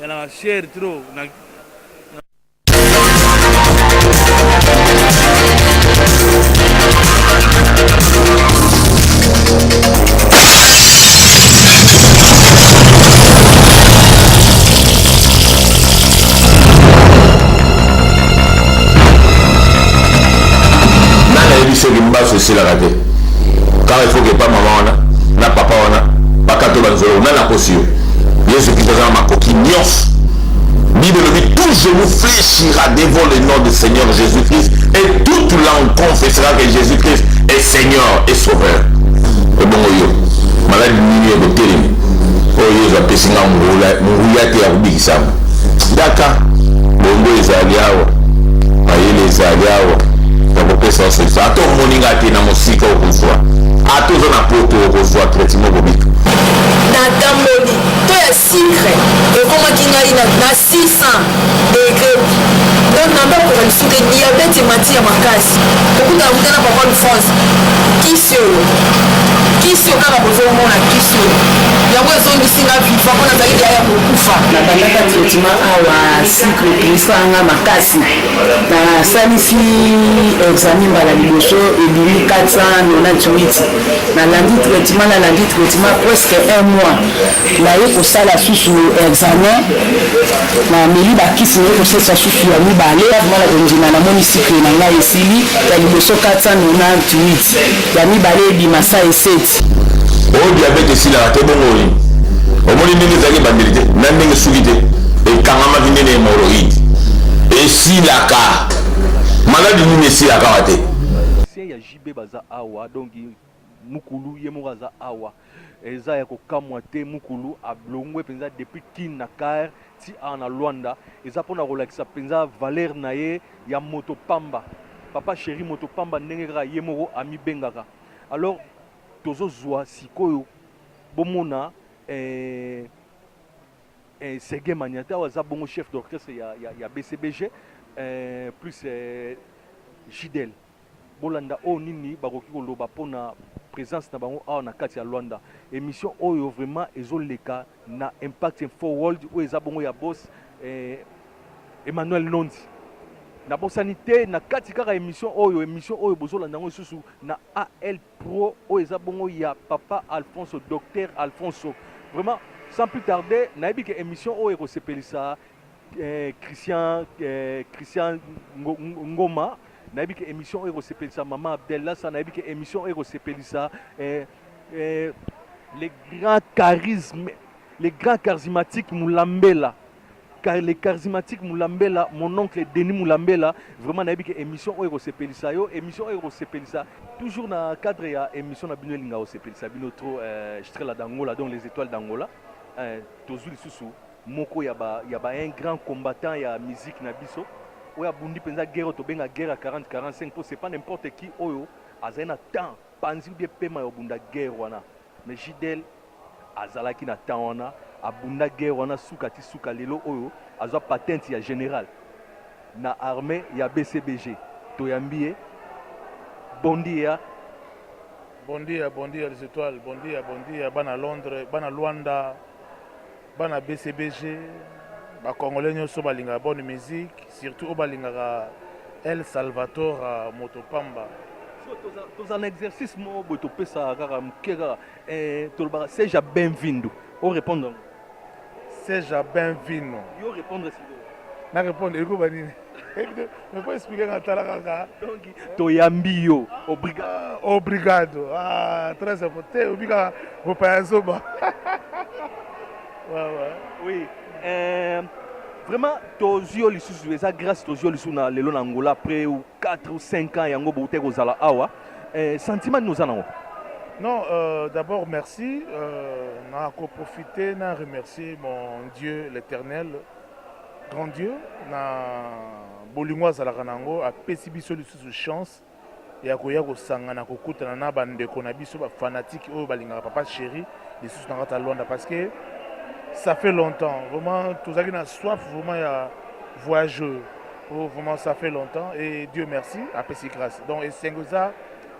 Yana cher trop na soki mbasu esilaka te kaka ifoke epa mama wana na papa wana bakato banzolo nani akosi yo yesu kristo aza na makoki nyonso bible elobi tout genou fléchira devant le nom du seigneur jésus christ et toute langue confessera que jésus christ est seigneur et sauveur ebongo yo maladi nini ekotelemi oyo yesu apesi nga nguya te ya kobikisama daka bongo ezali awa mayele ezali awa ya kopesa osekisa ata omoni nga te na mosika okozwa ata oza na poto okozwa traitement kobika natamboli to ya sikre ekomaki ngai na 600 degre donc na bakoka lisusu te diabete emati ya makasi kokutana kuta na papa france kisi oyo kisi oyo kaka bozomona kisi oyo yango ezongisi nga viva mpo nazali deya ya kokufa nabandaka traitement awa sikre elisaka nga makasi nasalisi examen mbala liboso ebimi 498 nalandi traitement nalandi traitement presque un mois naye kosala susu examen nameli bakisi naye kosalisa susu ya mibale avimana kondima namoni sikre na ngai esili ya liboso 498 ya mibale ebima sa eseti diabète oyo diabète esilaka te bongo oyi omoni ndenge ezalaki ebandeli te na ndenge esuki te ekangamaki nde na hemoroïde esilaka maladi nini esilaka awa te ya JB baza awa donc mukulu ye moko aza awa eza ya kokamwa te mukulu ablongwe mpenza depuis kin na car ti awa na lwanda eza mpona kolakisa mpenza valeur na ye ya moto pamba papa sheri moto pamba ndenge kaka ye moko amibengaka alors tozo zua sikoyo bomona eh, eh, Serge Maniata oyo aza bongo chef d'orchestre ya, ya, ya BCBG eh, plus eh, Gidel bolanda oyo nini bakoki koloba mpo na présence na bango awa na kati ya Luanda émission oyo vraiment ezoleka Na Impact Info World oyo eza bongo ya boss eh, Emmanuel Nondi. Nabosani te na kati kaka emission oyo emission oyo bozolanda yango lisusu na AL Pro oyo eza bongo ya papa Alfonso docteur Alfonso. Vraiment sans plus tarder nayebi ke emission oyo ekosepelisa eh, Christian eh, Christian Ngo- Ngo- Ngoma nayebi ke emission oyo ekosepelisa mama Abdella sa nayebi ke emission oyo ekosepelisa eh, eh, le grand charisme le grand charismatique mulambela car le charismatique mulambela mon oncle denis mulambela vraiment nayebi ke émission oyo ekosepelisa yo émission oyo ekosepelisa toujours na cadre ya émission na bino elinga kosepelisa bino trop euh, strela d'angola donc les étoiles d'angola euh, tozwi lisusu moko ya ba, ya ba un grand combattant ya musique na biso oyo abundi mpenza guerre oyo tobenga guerre ya 40 45 mpo c'est pas n'importe qui oyo azali na temps panzi ou bien pema ya obunda guerre wana mais JDL azalaki na temps wana abunda guerre wana suka ti suka lelo oyo azwa patente ya general na armee ya BCBG toyambi ye bon dia Bon dia bon dia les etoiles bon dia bon dia bana Londres bana Luanda Bana BCBG, ba Congolais nyoso balingaka bonne musique, surtout oyo balingaka El Salvador moto pamba. Toza na exercice moko boye topesaka kaka moke kaka eh, tolobaka seja benvindo o répondre yango seja benvino yo répondre sikoyo na répondre ekoba nini Nako expliquer nga tala kaka. Donc toyambi yo. Obrigado. Ah, obrigado. Ah, très important. Obika bopaya zoba. ouais, ouais. Oui. Euh, vraiment tozwi yo lisusu eza grâce tozwi yo lisusu na lelo na angola après 4 ou 5 ans yango bouteki kozala awa euh, sentiment nini oza nango non euh, d'abord merci euh, nakoprofite na remercier mon dieu l'éternel Grand Dieu na bolingo azalaka na yango apesi biso lisusu chance ya koya kosangana kokutana na bandeko na biso bafanatike oyo balingaka papa chéri lisusu na kati ya lwanda parce que ça fait longtemps vraiment tozalaki na soif vraiment ya voyageur oh, vraiment ça fait longtemps et dieu merci apesi grâce donc esengo eza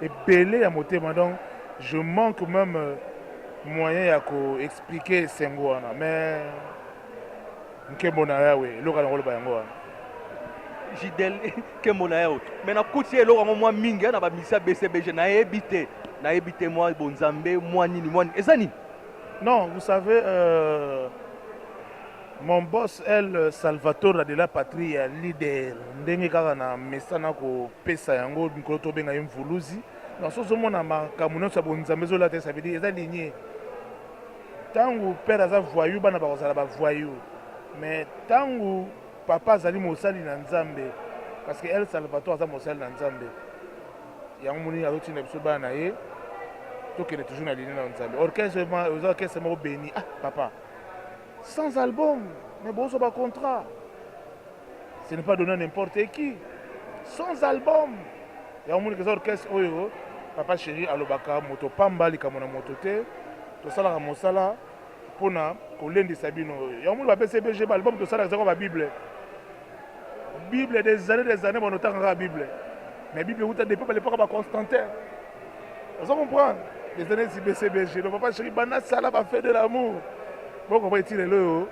ebele ya motema donc je manque même euh, moyen ya koexplike esengo wana mais Nkembo na Yawe, eloko na koloba yango wana. Jidel, nkembo na Yawe. Mais na kuti eloko yango mwa mingi na ba misa BCBG na yebi te. Na yebi te mwa bonzambe, mwa nini, mwa nini. Eza nini? Non, vous savez euh, mon boss El Salvatore de la patrie ya leader ndenge kaka na mesana kopesa yango mikolo tobenga ye mvuluzi na soso mona makambo nyonso ya bonzambe ezolata esabidi eza linie Tangu père aza voyou bana bakozala ba voyou mais tangu papa azali mosali na nzambe parce que el salvator aza mosali na nzambe yango moni azotinda biso bana na ye tokende toujours na linie na nzambe orchestre oza orchestre moko beni ah papa sans album mais bozo ba contrat ce n'est pas donné à n'importe qui sans album ya omoni keza orchestre oyo papa chéri alobaka moto pamba likambo na moto te tosalaka mosala mpo na kolendisa bino ya omoni bapesi bg baalbum tosalaka ezaka babible bible des années des années banotanga kaka bible mais bible euta depuis balepaka baconstantin ozo comprendre eza neti bcbg donc papa chéri banda sala ba fait de l'amour bokoba eti lelo oyo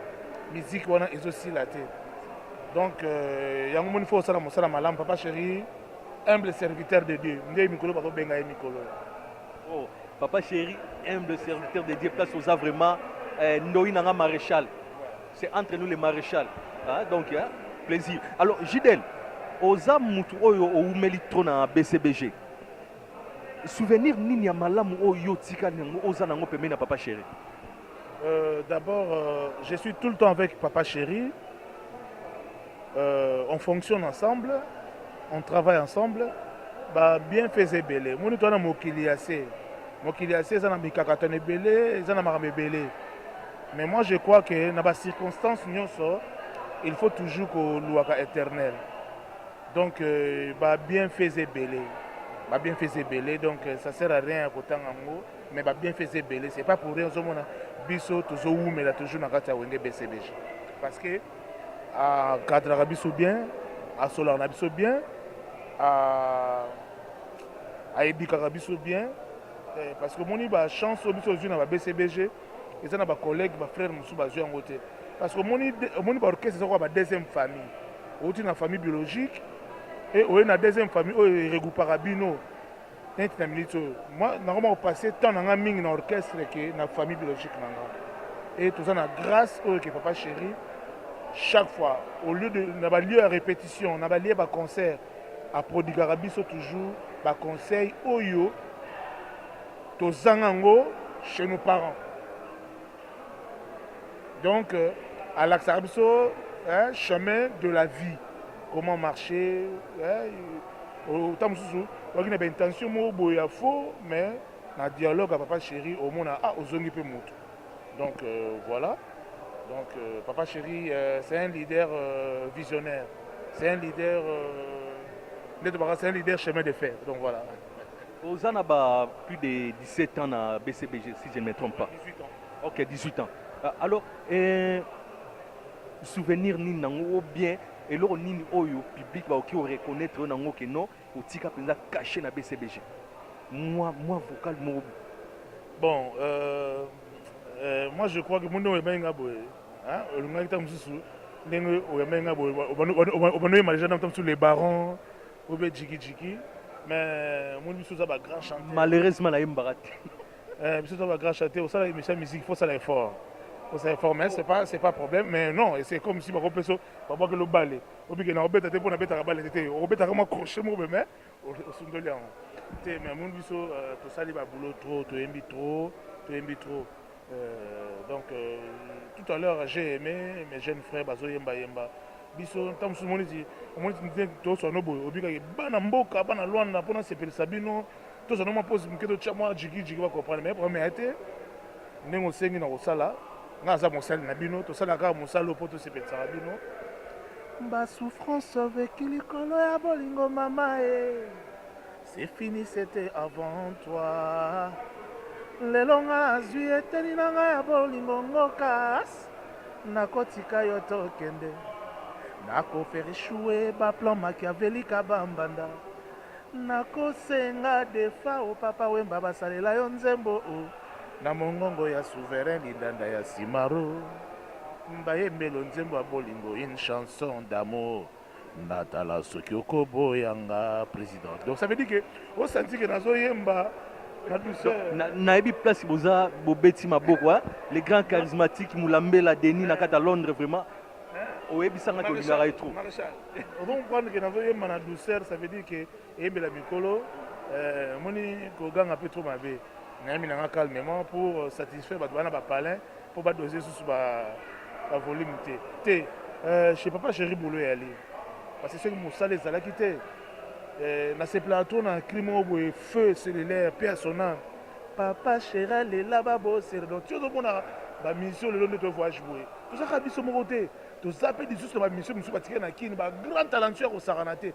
miziki wana ezosila te donc euh, yango moni fo osala mosala malamu papa chéri humble serviteur de dieu nde mikolo bakobenga ye mikolo oh, papa chéri humble serviteur de dieu place oza vraiment eh, ndoi na nga maréchal c'est entre nous les maréchal hein? donc hein? plaisir alors jidel oza mutu oyo owumeli trop na bcbg Souvenir nini ya malamu oyo yo otikali nango oza nango pembeni ya papa chéri? Euh, D'abord, euh, je suis tout le temps avec papa chéri. Euh, on fonctionne ensemble, on travaille ensemble. Ba bien faisait belé. Moni toi na mokili ya se. Mokili ya se eza na mikakatano ebele, eza na makambo ebele. Mais moi je crois que na ba circonstances nyonso, il faut toujours koluaka éternel. donc euh, ba bienfaits ebele ba bienfaits ebele donc euh, ça sert à rien ya kotanga yango mais ba bienfaits ebele c'est pas pour rien ozomona biso tozowumela toujours na kati ya wenge bcbg parce que akadraka biso bien asolaka na biso bien ayebikaka biso bien euh, parce que omoni bachance oyo biso ozwi na ba bcbg eza na ba collègues ba frères mosusu bazwi yango te parce que omoni omoni ba orchestre eza kwa ba deuxième famille outi na famille biologique et oye na deuxième famille oyo eregroupaka bino neti na minute oyo nakoma kopasse temps na ngai mingi na orchestre ke na famille biologique na ngai et toza na grâce oyo ke papa chéri chaque fois au lieu de na balieu ya répétition na balie ba concert aprodigaka biso toujours ba conseil oyo Tozanga yango chez nos parents. Donc, euh, alakisaka biso hein, chemin de la vie. Comment marcher. Hein, autant mosusu oki na baintention moko boye ya faux mais na dialogue ya papa chéri omona ah ozongi mpe moto donc euh, voilà donc euh, papa chéri euh, c'est un leader euh, visionnaire c'est un leader euh, nde tobaka c'est un leader chemin de fer donc voilà Oza na ba plus de 17 ans na BCBG si je ne me trompe pas. 18 ans. Ok, 18 ans. Ah, alors, eh, souvenir nini nango ou bien eloko nini oyo public bakoki oreconnaitre yo nango ke non otika mpenza cache na BCBG mwa mwa vocal moko bon euh, euh, moi je crois que monde oyambaki nga boye olingaki ntango mosusu ndenge oyambaki nga boye obanoyema deja ntango mosusu le baron Obe jiki jiki mais omoni biso oza ba grand chanteur. Malheureusement nayembaka te. Eh biso oza ba grand chanteur osala émission ya musique faut osala effort. Osala effort mais c'est pas c'est pas problème mais non c'est comme si bako peso babwaki lo bale obike na obeta te mpo nabetaka bale te te obetaka mwa crochet moko boye mais osundoli yango te mais omoni biso tosali ba boulot trop toyembi trop toyembi trop Euh, donc euh, tout à l'heure j'ai aimé mes jeunes frères bazoyemba yemba biso ntango mosusu omoni ti omoni ti nde toswano boye obikaki bana mboka bana lwanda mpo nasepelisa bino tozwano mwa posi moke totya mwa jigijigi bakomprendre mai problème ya te ndenge osengi na kosala ngai aza mosali na bino tosalaka kaka mosala oyo mpo tosepelisaka bino basouffrance oveki likolo ya bolingo mama e eh. C'est fini, c'était avant toi. lelo nga azwi eteni na nga ya bolingo ngokas nakotika yo tokende nakofere shue baplan makiavelika bambanda nakosenga defa o papa wemba basalela yo nzembo o na mongongo ya souverain lidanda ya simaro mbayembelo nzembo ya bolingo une chanson d'amour Natala soki okoboya nga president. Donc ça veut dire que o sentir que nazo yemba na douceur. Na nayebi place boza bobeti maboko hein. Le grand charismatique Mulambela Denis na kata Londres vraiment. Oyebisanga que olingaka ye trop. Maréchal. Ozo comprendre que nazo yemba na douceur ça veut dire que eyembela mikolo eh, omoni koganga mpe trop mabe nayembi na nga calmement pour euh, satisfaire bato bana bapalin mpo badose lisusu bavolume te te euh, chez papa chéri bolo eyali parce que soki mosala ezalaki te euh, nasepelaka to na cri moko boye feu cellulaire mpe asona papa chéri alela babosere donc ti ozomonaka bamisio lelo nde tovoyage boye tozalaka biso moko te toza mpe lisusu na bamisio mosusu batikali na kini bagrand talentueux ya kosakana te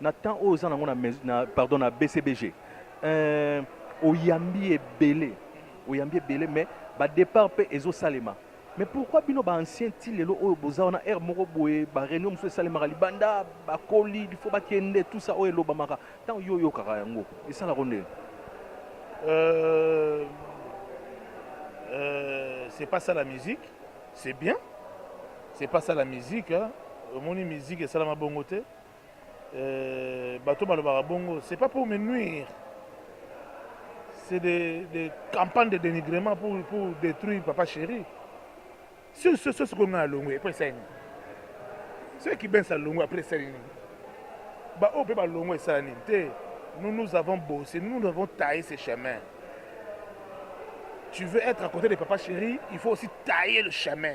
Na temps oyo oza nango na mais na pardon na BCBG euh, oyambi ebele oyambi ebele mais ba départ pe ezo salema mais pourquoi bino ba anciens ti lelo oyo boza wana heure moko boye ba réunion mosusu esalemaka libanda bakoli il faut bakende tout ça oyo elobamaka ntango yo oyokaka yango esalako ndenge euh, euh, c'est pas ça la musique c'est bien c'est pas ça la musique hein. omoni musique esalama bongo te Euh, bato balobaka bongo c'est pas pour me nuire c'est des, des campagnes de dénigrement pour, pour détruire papa chéri sur ce ce sikoyo ngai alongwe epo esali nini soki kibens alongwe après esali nini baoyo mpe balongwe esala nini te nous nous avons bossé nous avons taillé ce chemin tu veux être à côté de papa chéri il faut aussi tailler le chemin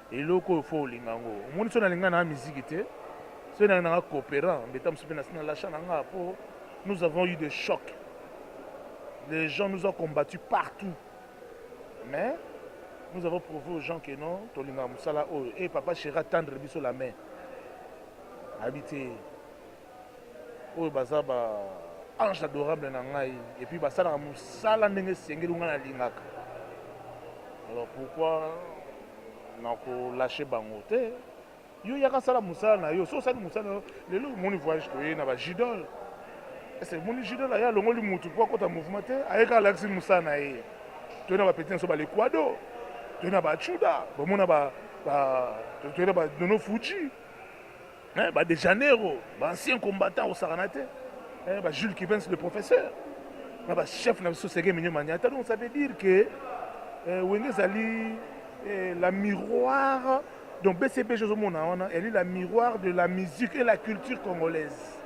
Eloko oyo faut olinga yango. Omoni so nalinga na musique te. So na na coopérant, mbeta musupe na sina lacha na nga po nous avons eu des chocs. Les gens nous ont combattu partout. Mais nous avons prouvé aux gens que non, tolinga musala oyo. Et papa Chera tendre biso la main. Habité. oyo baza ba ange adorable na ngai et puis basalaka mosala ndenge esengeli ngai nalingaka alors pourquoi nakolashe bango te yo yaka sala mosala na yo so osali mosala na yo lelo omoni voyage toye na bajidole ese omoni jidole aye alongoli motu mpo akota mouvement te aye kaka alakisi mosala na ye toye na bapeti na so balekwado toye na bachuda bomona toye na badono fuji Eh, ba de Janeiro, ba anciens combattants au Saranate, eh, ba Jules Kivens le professeur, na ba chef na biso Sege Minyo Maniata. Donc ça veut dire que eh, Wenge ezali eh, la miroir donc BCP Joseph Monaona, elle est la miroir de la musique et la culture congolaise.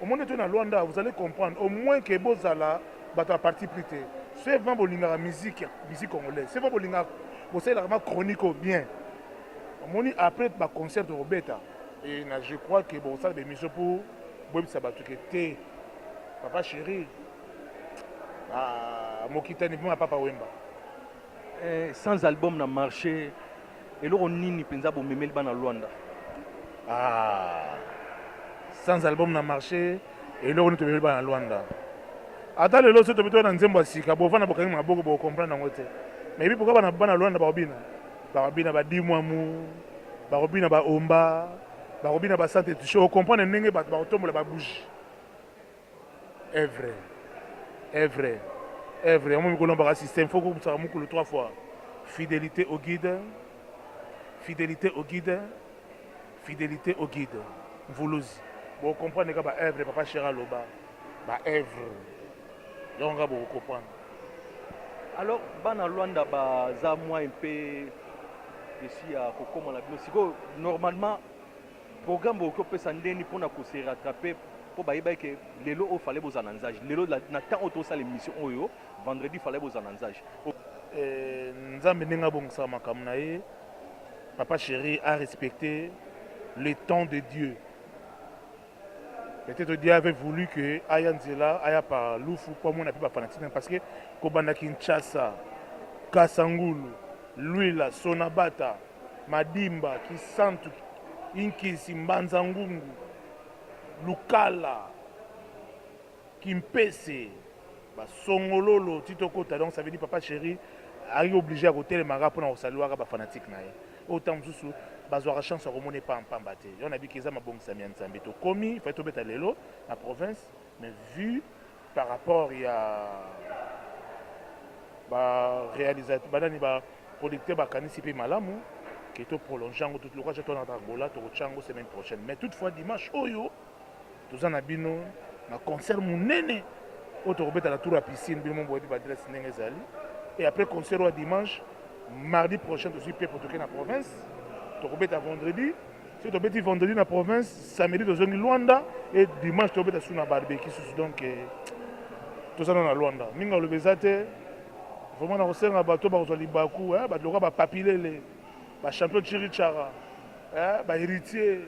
Au moins tu na Luanda, vous allez comprendre au moins que Bozala bata parti plus tard. C'est vraiment bolingaka musique, musique congolaise. C'est vraiment bolingaka bosalelaka ma chronique bien. Omoni après ba concert tokobeta et na je crois que bokosala ba émission pour boyebisa bato ke te papa chéri ah, mokitani mpo na papa wemba eh, sans album na marché eloko nini mpenza bomemeli bana lwanda ah, sans album na marché eloko nini tomemeli bana lwanda ata lelo soki tobitola na nzembo ya sika bovanda bokangi maboko bokocomprendre yango te mais ebi pourkui bana lwanda bakobina Bakobina ba dimwamu, bakobina ba omba, bakobina ba sante touche. Okomprendre ndenge bato bakotombola ba bougie. Evre, evre, evre. Yango mikolo na baka système, faut kokusaka mukulu trois fois. Fidelité au guide, fidelité au guide. Fidelite au guide mvuluzi bo comprendre ka ba œuvre papa Shera loba ba œuvre yango nga bo comprendre Alors bana Luanda baza moyen mpe esi ya kokoma na bino sikoyo normalement programme bokoki kopesa ndeni mpona kose rattraper mpo bayebaki ke lelo oyo fale bozala na nzage lelo la- na temps oyo tosala émission oyo vendredi fale bozala na nzage Eh, nzambe ndenge abongisaka makambo na ye Papa chéri a respecté le temps de Dieu. Peut-être Dieu avait voulu que aya nzela aya pa lufu po amona mpe bafanatisme parce que kobanda Kinshasa, Kasangulu, Luila, Sonabata, Madimba, Kisantu, Inkisi, Mbanza Ngungu, Lukala, Kimpese ba songololo ti tokota donc ça veut dire papa cheri ayaki oblige ya kotelemaka mpona kosaliwaka ba fanatique na ye oyo ntango mosusu bazwaka chance ya komona epa mpamba te yo nabiki eza mabongisami ya nzambe tokomi fai tobeta lelo na province mais vue par rapport ya ba réalisateur banani ba producteur bakanisi mpe malamu ke to prolonge yango lokola ca tona angola tokotya yango semaine prochaine mais toutefois dimanche oyo Toza na bino na concert munene oyo tokobeta na tour ya piscine, bino moko boyebi ba adresse ndenge ezali. Et après concert wa dimanche, mardi prochain tozwi pepo toke na province, tokobeta vendredi. Soki tobeti vendredi na province, samedi tozongi Luanda et dimanche tokobeta sous na barbecue susu. Donc eh, toza na na Luanda. Mingi aloba eza te. Vraiment nakosenga bato bakozwa libaku, eh, bato lokola ba papilele. Ba champion Chiri Chara, eh, ba heritier.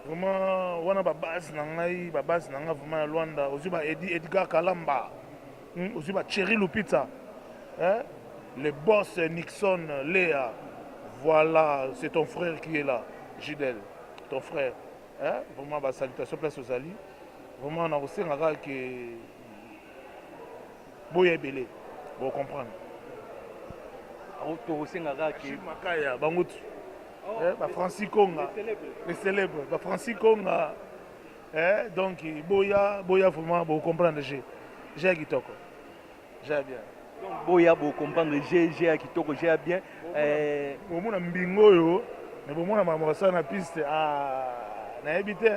Vraiment, wana ba base na ngai, ba base na ngai vraiment ya Luanda. Ozui ba Edi, Edgar Kalamba. Hmm, ozui ba Cheri Lupita. Eh, le boss Nixon Lea. Voilà, c'est ton frère qui est là, Gidel. Ton frère. Eh, vraiment, ba salutations place aux alliés. Vraiment, na kosenga kaka que boya ebele bo comprendre tokosenga kaka makaya bango tu oh, eh, ba francis konga les célèbres ba francis konga eh, donc boya boya vraiment bo comprendre je je ya kitoko je ya bien boya bo comprendre je je ya kitoko je ya bien eh, bomona mbingo oyo me bomona makambo basala na piste ah, nayebi te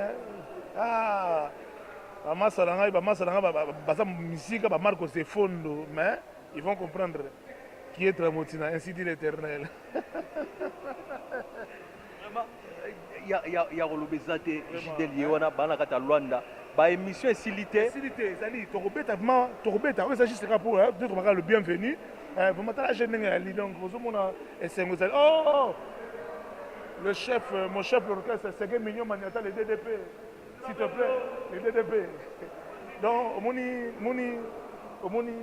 ah, Bamasa na ngai, bamasa na ngai baza misika, ba Marcos Efondo, mais ils vont comprendre qui est Tramotina, ainsi dit l'Éternel. ya ya ya koloba eza te jidel ye wana bana kati ya lwanda baémission esili te esili te ezali tokobeta vraiment tokobeta oyo eza juste kaka mpo nde tobaka le bienvenu eh, vraiment tala je ndenge yali donc ozomona esengo ezali o oh, oh, oh. le chef euh, mon chef l'orchestre sege mignon maniata le ddp S'il te plaît, le DDP. Donc, omoni, omoni, omoni,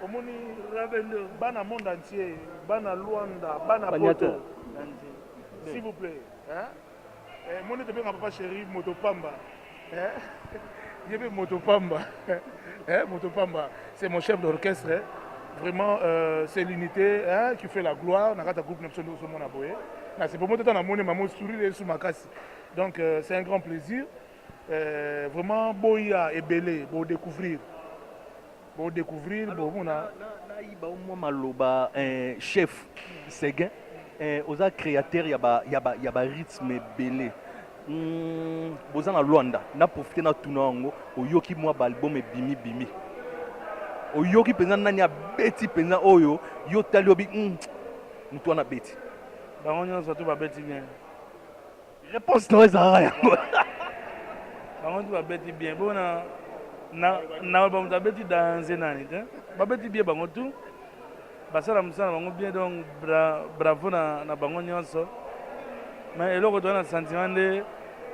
omoni, Rabendo. bana monde entier, bana Luanda, bana Poto. Banyata. S'il vous plaît, hein? Eh, moni te benga papa chéri moto pamba. Hein? Yebe moto pamba. Hein, moto pamba. C'est mon chef d'orchestre. hein. Vraiment, euh, c'est l'unité hein, qui fait la gloire. Nakata groupe Nepson Doso Mona Boye. Na c'est pour moi tata na moni maman sourire sous makasi. Donc euh, c'est un grand plaisir. Euh, vraiment boya ebele bo découvrir. Bo découvrir bo mona na iba au moins maloba euh, chef Seguin euh, oza créateur ya ba ya ba ya ba rythme ebele. Mm, boza na Luanda na profiter na tuna yango oyoki mwa ba album ebimi bimi. Oyoki penza nani abeti penza oyo yo tali obi mm, mutu wana beti. Bango nyonso tu babeti bien. Reponse nayo ezalaka yango. Bango tu babeti bien bo na na na bamoto abeti danze nani te babeti bien bango tu basala mosala bango bien donc bra, bravo na, na bango nyonso mais eloko toza na sentiment nde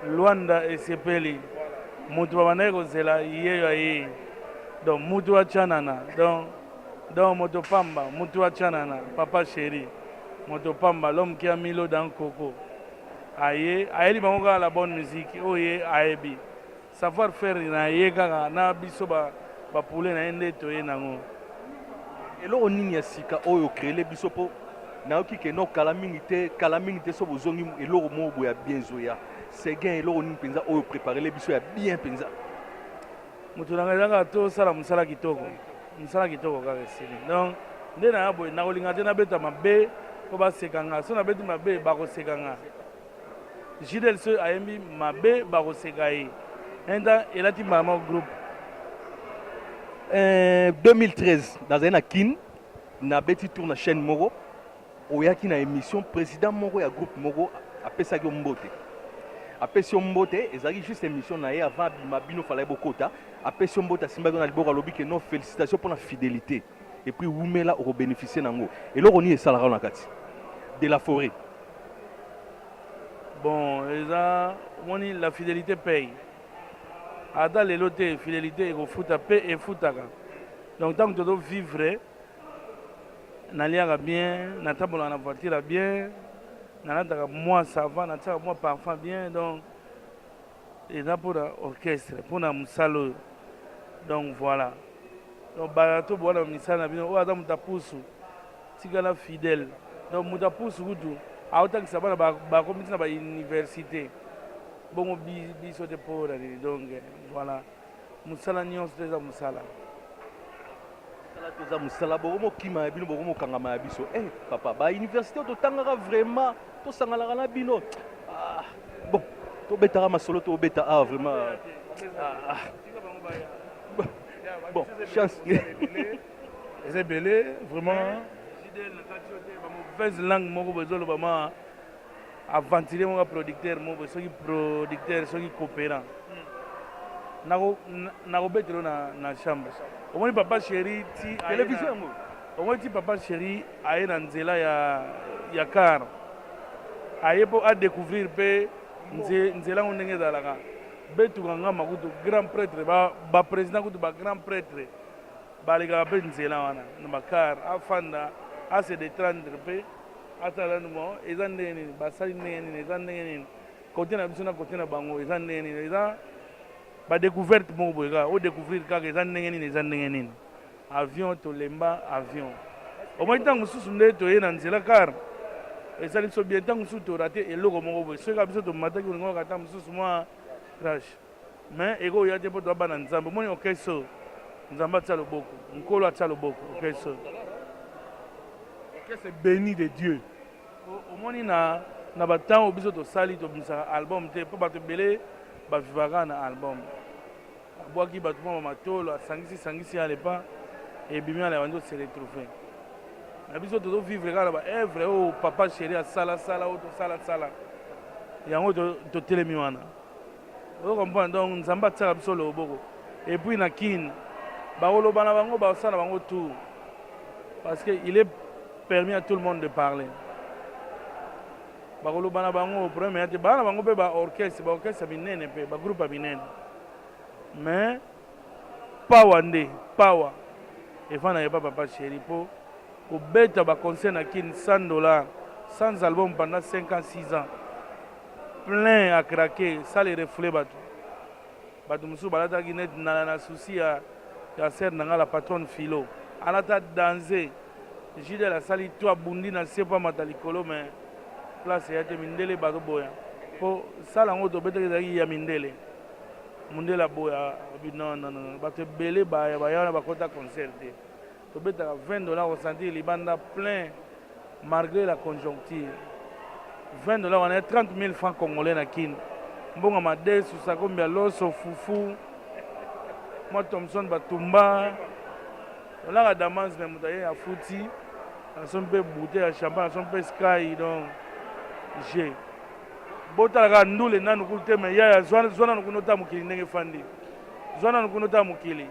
luanda esepeli moto babandaki kozela yeyo ayei donc moto acanana donc donc moto pamba moto acanana papa sheri Moto pamba l'homme qui a mis l'eau dans coco aye ayeli bango kaka la bonne musique oyo ye ayebi savoir faire na ye kaka na biso ba, ba poulet na ye nde toye nango eloko nini ya sika oyo okrele biso mpo nayoki ke no kala mingi te kala mingi te so bozongi eloko moko boye ya bien ezoya seguin eloko nini mpenza oyo opreparele biso ya bien mpenza Moto na ngai eza kaka tosala mosala kitoko, mosala kitoko kaka esili. Donc nde naya boye, nakolinga te nabeta mabe mpo baseka nga. So nabeti mabe bakoseka nga. JDL so ayembi mabe bakoseka ye. Enda elati mbala moko groupe. Eh, 2013 nazali na Kin, nabeti tour na chaîne moko oyaki na emission president moko ya groupe moko apesaki yo mbote apesi yo mbote ezalaki juste émission na ye avant abima bino falaki bokota apesi yo mbote asimbaki yo na liboko alobi ke non félicitation mpo na fidélité et puis wumela okobénéficie na yango eloko nini esalaka na kati de la forêt bon eza omoni la fidélité paye ata lelo te fidélité ekofuta mpe efutaka donc ntango tozo vivre Naliaka bien, natambolaka na voiture ya bien, nalataka mwa sava, natiaka mwa parfum bien, donc eza mpo na orchestre, mpo na mosala oyo. Donc voilà. Donc bala to bwana misala na bino oyo aza moto apusu tikala fidèle. Donc moto apusu kutu aotangisa bana bakomiti na ba université. Bongo biso te mpo na nini donc voilà. musala nyonso to eza musala musala to eza musala boko mokima ya bino boko mokangama ya biso eh papa ba université to tangaka vraiment to sangalaka na bino ah, bon to betaka masolo to beta ah vraiment ah, ah. bon chance eza ebele vraiment mauvaise langue moko bozoloba ma aventurier moko ya producteur moko soki producteur soki cooperant nakobetela yo na chambre omoni papa chéri ti televizio yango omoni ti papa chéri aye na nzela ya, ya car aye mpo adécouvrir mpe nzela yango ndenge ezalaka betuka ngama kutu grand prêtre baprésident ba kutu bagrand prêtre balekaka mpe nzela wana na bakar afanda ase detrendre mpe Ata lanu bon eza ndenge nini basali ndenge nini eza ndenge nini kote na biso na kote na bango eza ndenge nini eza ba découverte moko boye kaka o découvrir kaka eza ndenge nini eza ndenge nini avion tolemba avion omoi ntango mosusu nde toye na nzela car esali biso bien ntango mosusu torate eloko moko boye soki kaka biso tomataki olingo kaka ntango mosusu mwa crash Mais eko ya te po toza bana nzambe omoni okay so nzambe atia loboko nkolo atia loboko okay so okay se beni de dieu omoni na na ba temps oyo biso tosali tobimisaka album te po bato ebele bavivaka na album abwaki bato mwa bamatolo asangisi sangisi ya lepa ebimi ala bandi ose retrouve na biso tozo vivre kaka na ba evre oyo papa chéri asala sala oyo tosala sala yango totelemi wana Ozo comprendre donc nzambe atiaka biso loboko et puis na kin bakoloba na bango bakosala na bango tour parce que il est permis à tout le monde de parler bakoloba na bango problème ya te baa na bango mpe ba orchestre ba orchestre ya minene mpe ba groupe ya minene mais pawa nde pawa efandaka epa papa chéri mpo kobeta baconcert na kin 100 dollar sans album pendant 5 ans 6 ans plein à craquer sale et refoule batu batu mosusu balataki net na na souci ya ya sœur na nga la patronne philo alata danze jidel asali to abundi na se mpo amata likolo mais place eya te mindele bato boya mpo sala yango tobetaki ezalaki ya mindele mondele aboya non non non bato ebele baya baya wana bakota concert te Tobetaka 20 dollars au centire libanda plein malgre la conjoncture. 20 dollars wana 30 000 francs congolais na Kin. Mbongo madesu, sakombi ya loso, fufu, mwa Thompson batumba. Olaka damans me moto aye afuti. Naso mpe bouteille ya champagne, naso mpe sky donc je botala kaka ndule nanu kulu te me yaya zwana nanu kuna ota mokili ndenge efandi zwana nanu kuna ota mokili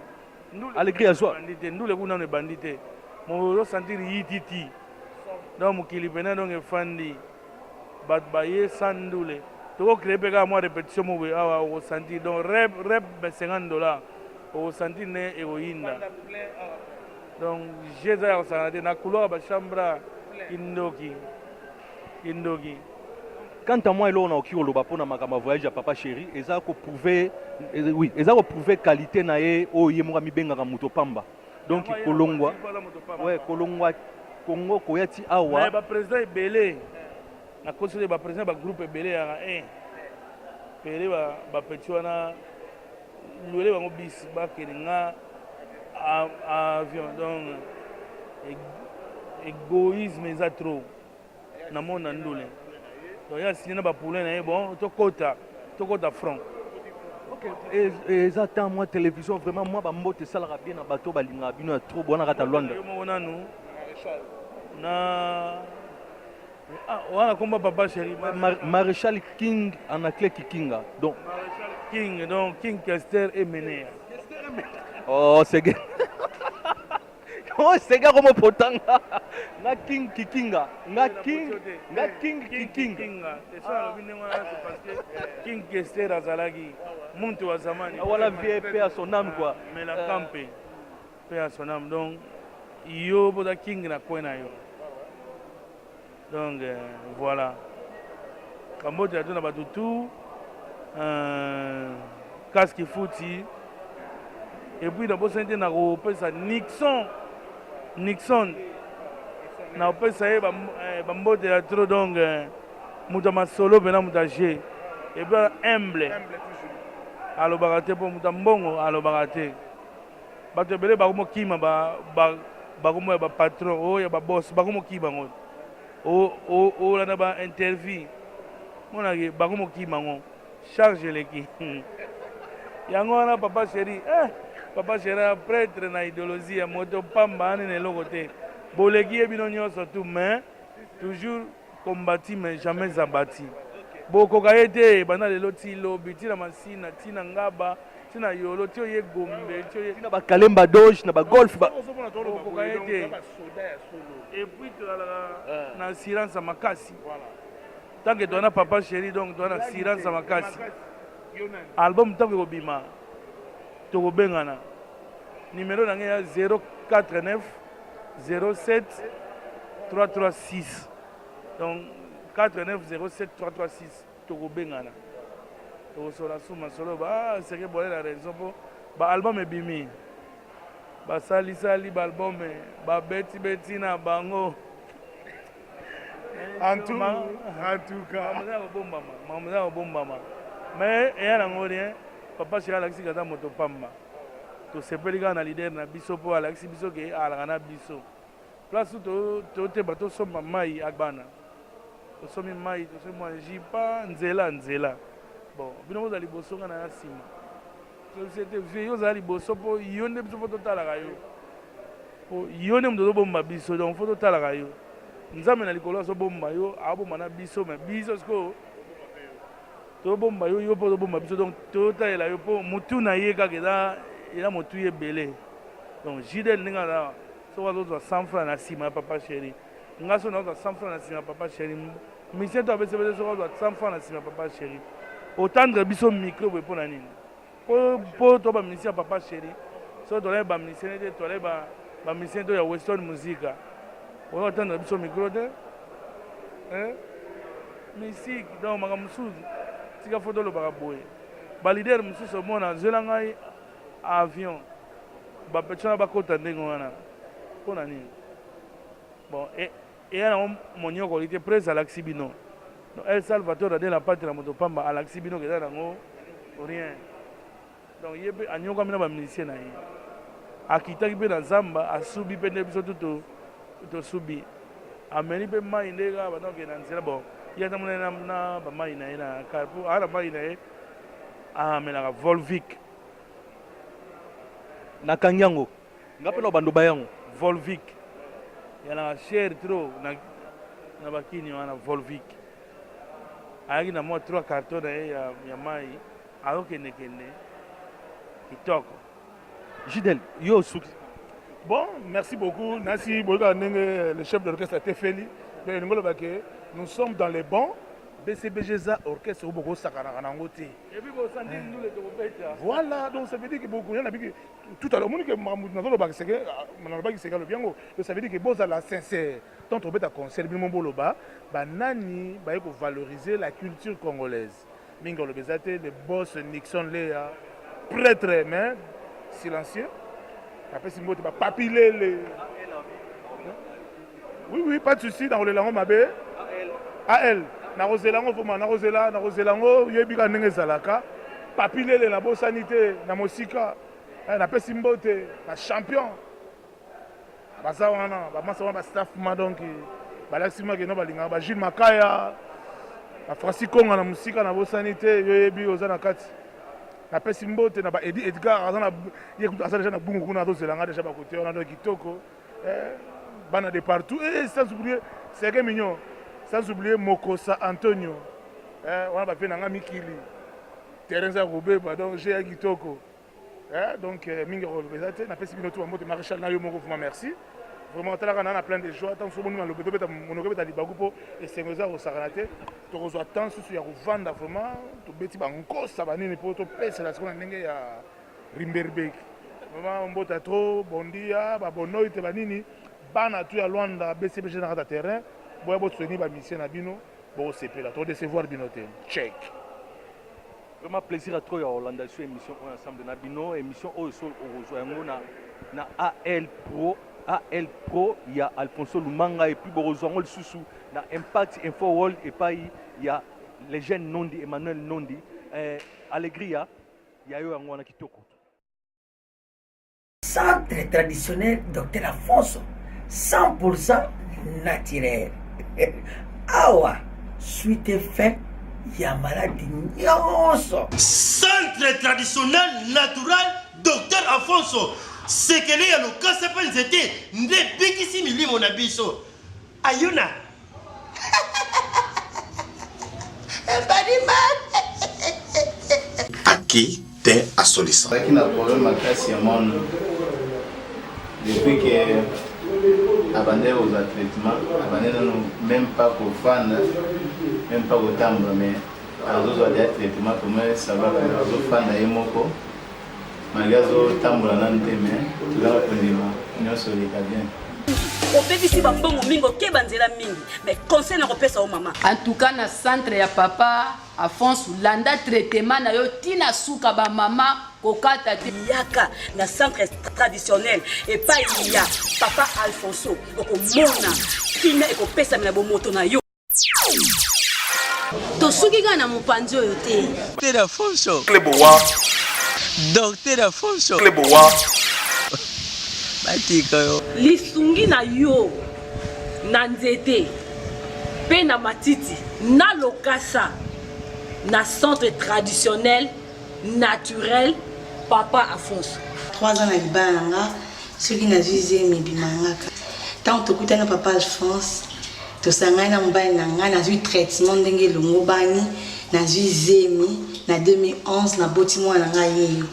Alegri ya zwa. Ndule kuna nanu ebandi te. Mozo sentir yititi. Donc mokili pena donc efandi. Bato baye sans ndule. Toko créer pe kaka mwa repetition moko boye awa oko sentir. Donc rep rep 50 dollars. Oko sentir ne ekoyinda. Donc jeu eza ya kosakana te. Na couloir ba chambres kindoki. Kindoki. Quant à moi eloko na oki koloba pona makambo ya voyage ya papa chéri eza ko prouver eh, oui eza ko prouver qualité na ye oyo ye moko amibengaka moto pamba donc kolongwa ouais kolongwa Congo koya ti awa mais ba président ebele na kosele ba président ba groupe ebele ya eh pele ba ba petit wana Luele bango bis bakende nga avion donc egoïsme eza trop na monde na ndule donc ya signe na ba poulain na ye bon tokota tokota franc eza temps mwa télévision vraiment mwa bambote esalaka bien na bato balingaka bino ya trop bowanaka ta lwanda moko nanu na Ah, wana komba papa chéri maréchal king en anglais kikinga donc maréchal king donc king kester emenea oh sege oh sege akomo potanga nga king kikinga nga king nga king kikinga esa alobi ndenge wana c'est parce que king kester azalaki muntu wa zamani wana vie pe à son âme quoi ah, mais la campe euh, Paix à son âme. Donc, yo boza king na coin na yo. Donc, euh, voilà. Kambote ya tuna bato tout. Euh, casque fouti. Et puis, nabosani te na kopesa Nixon. Nixon. Na kopesa ye eh, bambote ya trop. Donc, euh, moto ya masolo mpena moto ya jeu. Et puis, humble. Alobaka te mpo moto ya mbongo alobaka te. Bato ebele bakomo kima ba, ba, bakomo ya ba patron o oh, ya ba boss bakomo kima ngo o oh, o oh, o lana ba interview mona ke bakomo kima ngo charge eleki yango wana papa chéri eh papa chéri prêtre na idéologie ya moto pamba ani na eloko te boleki ye bino nyonso tout mais toujours Combattit mais jamais abattit bokoka ye te banda lelo ti lobi ti na masina ti na ngaba ti na yolo ti oye gombe ti oye ti na ba kalemba doge na ba golf ba bokoka ye te et puis tozalaka na assurance makasi tant que toana papa chéri donc toana assurance makasi album tango ekobima tokobengana numero na ngai ya 049 07336 donc 4907336 tokobengana tokosola su masolo ba ah, seke bwale na raison mpo baalbum ebimi basalisali baalbum eh, babetibeti na bango makambo eza kobombama mais eya nango rien papa sheri alakisi kaza moto pamba tosepeli kaka na leader na biso mpo alakisi biso ke alaka na biso place toteba tosomba mai agbana tosomi mai tosomi mwa jipa nzela nzela bon bino bozala liboso nga naya nsima société vie yo ozala liboso mpo yo nde biso mpo totalaka yo mpo yo nde moto ozobomba biso donc mpo totalaka yo nzambe na likolo azobomba yo abomba na biso me biso sikoyo tobomba yo yo mpo tobomba biso donc totalela yo mpo motu na ye kaka eza eza motuya ebele donc jidel ndenge aza soki azozwa 100 franc na nsima ya papa chéri nga soki nazozwa 100 franc na nsima ya papa chéri misie to abesebese soki azwa 100 franc na nsima ya papa chéri otandre biso micro boye mpo na nini po po to ba musiciens papa chéri so tolai ba musiciens te tolai ba ba musiciens to ya western musica oyo atanda biso micro te eh musique donc makambo mosusu tika fo tolobaka boye balidere mosusu omona zwela ngai avion bapetisa na bakota ndenge wana mpo na nini bon e Eya nango monyokoli te prez alakisi bino no el salvator ade na pati na moto pamba alakisi bino keza nango rien donc ye pe anyokwami na ba musicien na ye akitaki pe na zamba asubi pe nde biso tutu tosubi ameli pe mai nde kaka banda kokende na nzela bon ye ata mona na, na ba mai na ye na kar po aa na mai na ye amelaka volvic nakangi yango Nga pe na bando ba yango volvic ya na cher trop na na bakini wana volvic ayaki na mwa trois carton na ye ya, ya mai ayokendekende kitoko jidel yo osuki bon merci beaucoup nasi boyokaka ndenge le chef de l'orchestre atefeli donc elingi oloba ke nous sommes dans les bons bcbg eza orchestre oyo bokosakanaka na yango te voilà donc ça veut dire ke bokoya na biki tout à l'heure omoni ke makambo nazolobaka seke ah, nalobaki seke alobi yango donc ça veut dire ke bozala sincère tant obeta concert bino boloba banani baye kovaloriser la culture congolaise mingi oloba eza te le boss nixon leya prêtre mais silencieux apesi mbote bapapilele Oui oui pas de souci na kolela ngo mabe. AL na kozela ngo vraiment na kozela na kozela ngo yebi ka ndenge ezalaka. Papi lele na bosani te na mosika. Eh, na pesi mbote na champion. Baza wana ba masa wana ba staff ma donc balakisi ma ke no balinga ba Jules Makaya. Ba Francis Konga na mosika na bosani te yo yebi oza na kati. napesi mbote na ba edi edgar aza na ye kutu aza deja na bungu kuna azozela nga deja bakote wana donc kitoko Eh, bana de partout eh, sans oublier seke mignon sans oublier mokosa antonio eh, wana bapie na nga mikili terrain eza kobeba donc je ya kitoko eh, donc eh, mingi akoloba eza te napesi bino tu bambote maréchal na yo moko vraiment merci vraiment talaka na na plein de joie ntango soki omoni malobe tobeta monoko ebeta libaku mpo esengo eza kosakana te tokozwa temps susu ya kovanda vraiment tobeti bankosa banini mpo topesela sikoyo na ndenge ya Rimberbeki. Mama mbota trop bondia ba bonoi te banini bana tu ya Luanda BCBG na kata terrain boya bo soutenir ba musiciens na bino bo sepela to décevoir bino te. Check. Vraiment plaisir à trop ya Hollanda sur émission oyo ensemble na bino émission oyo so okozwa yango na na AL Pro AL Pro ya Alfonso Lumanga et puis bokozwa yango lisusu na Impact Info World epai ya legende Nondi Emmanuel Nondi eh, Alegria ya yo yango wana kitoko centre traditionnel docteur afonso 100% naturel awa suite fin ya maladi nyonso centre traditionnel natural docteur afonso sekele ya lokasa mpe nzete nde ebikisi milimo na biso Ayuna. Aki te asolisa. Aki na problème makasi ya mwana. Depuis que abandaki kozwa traitement abandi nano même pas kofanda même pas kotambola mais azozwa deya traitement tomoni sabaka azofanda ye moko Maria zo tambola nanu te mais tozala kondima nyonso eleka bien. obebisi bambongo mingi okeba nzela mingi mais conseil na kopesa yo mama en tout cas na centre ya papa afonso landa traitement na yo ntina suka bamama kokata te yaka na centre traditionnel epai ya papa alfonso okomona kimia ekopesamela bomoto na yo tosuki kaka na mopanzi oyo te Docteur Afonso. Kleboa. Docteur Afonso. Kleboa. Batika yo. lisungi na yo na nzete mpe na matiti na lokasa na centre traditionnel naturel papa afonso 3 ans na libala na nga soki nazwi zemi ebimangaka ntango tokutana papa alphonse tosangani na mobali na ngai nazwi traitement ndenge elongobani nazwi zemi na 2011 naboti mwana na ngai yeyo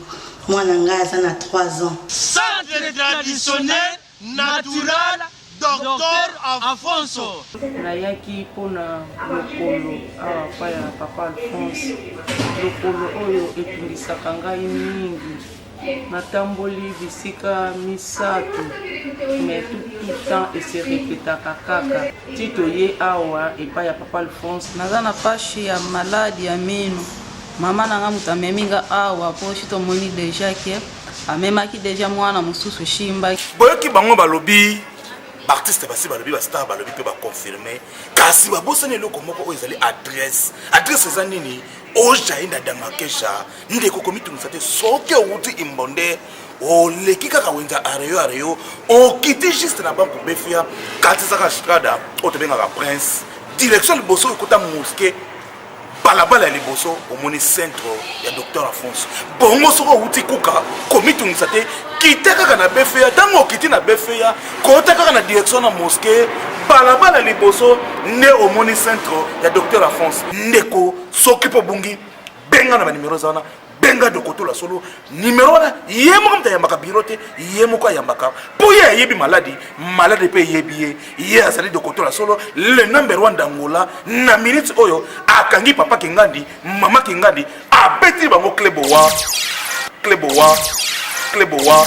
mwana na ngai aza na 3 ans centre traditionnel natural Docteur Afonso. Nayaki mpo na lokolo awa epai ya papa Alphonse, lokolo oyo etungisaka ngai mingi. Natamboli bisika misato mais tout, tout temps ese repetaka kaka ti toye awa epai ya papa Alphonse. Naza na pashi ya maladi ya mino, mama na nga moto amemi nga awa mpo si tomoni deja ke amemaki deja mwana mosusu shimba boyoki bango balobi baartiste basi balobi bastar balobi mpe baconfirme kasi babosani eloko moko oyo ezali adresse adresse eza nini ojai na damakesha ndeko komitungisa te soki owuti imbonde oleki kaka wenza areyo areyo okiti juste na banque befia katisaka strada oyo tobengaka prince direction liboso ekota moske balabala ya liboso omoni centre ya docteur afonso bongo soki outi kuka komitungisa te kita kaka na befeya ntango okiti na befeya kota kaka na direction na moske balabala liboso nde omoni centre ya docteur afonso ndeko soki mpo obungi benga na banimero eza wana benga dokotola solo nimero wana ye moko moto ayambaka biro te ye moko ayambaka mpo ye ayebi maladi maladi mpe eyebi ye ye azali dokotola solo le number one dangola na minute oyo akangi papa kingandi mama kingandi abeti bango klebowa klebowa klebowa